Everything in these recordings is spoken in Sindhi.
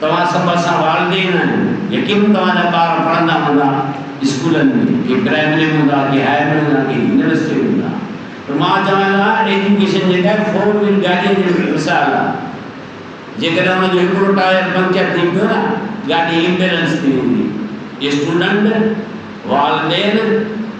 توهان سڀ اسان والدين آهيو، يقينن توهان جا ٻار پڙهندا هوندا اسڪولن ۾، ڪي پرائمري ۾ هوندا، ڪي هائر ۾ هوندا، ڪي يونيورسٽي ۾ هوندا پر مان چوان ٿو ته ايجوڪيشن جيڪا آهي فور ويل گاڏيء جي مثال آهي، جيڪڏهن ان جو هڪڙو ٽائر پنڪچر ٿي پيو نه گاڏي امبيلنس ٿي ويندي، اسٽوڊنٽ، والدين،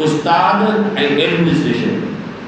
استاد ۽ ايڊمنسٽريشن.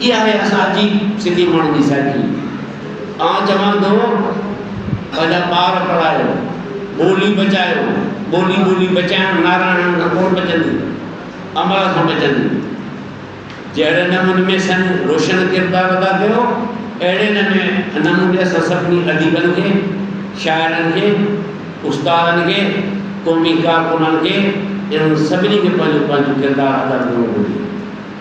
هي آهي اسان جي سنڌي ماڻهن جي سائيڪي. آئون چوان ٿو پنهنجا ٻار پڙهايو، ٻولي بچايو، ٻولي ٻولي بچائڻ ناراڻن کان ڪونه بچندي، امڙ کان بچندي. جهڙي نموني ۾ سن روشن ڪردار ادا ڪيو، اهڙي نموني اسان سڀني اديبن کي، شاعرن کي، استادن کي، قومي ڪارڪنن کي، انهن سڀني کي پنهنجو پنهنجو ڪردار ادا ڪرڻو گهرجي.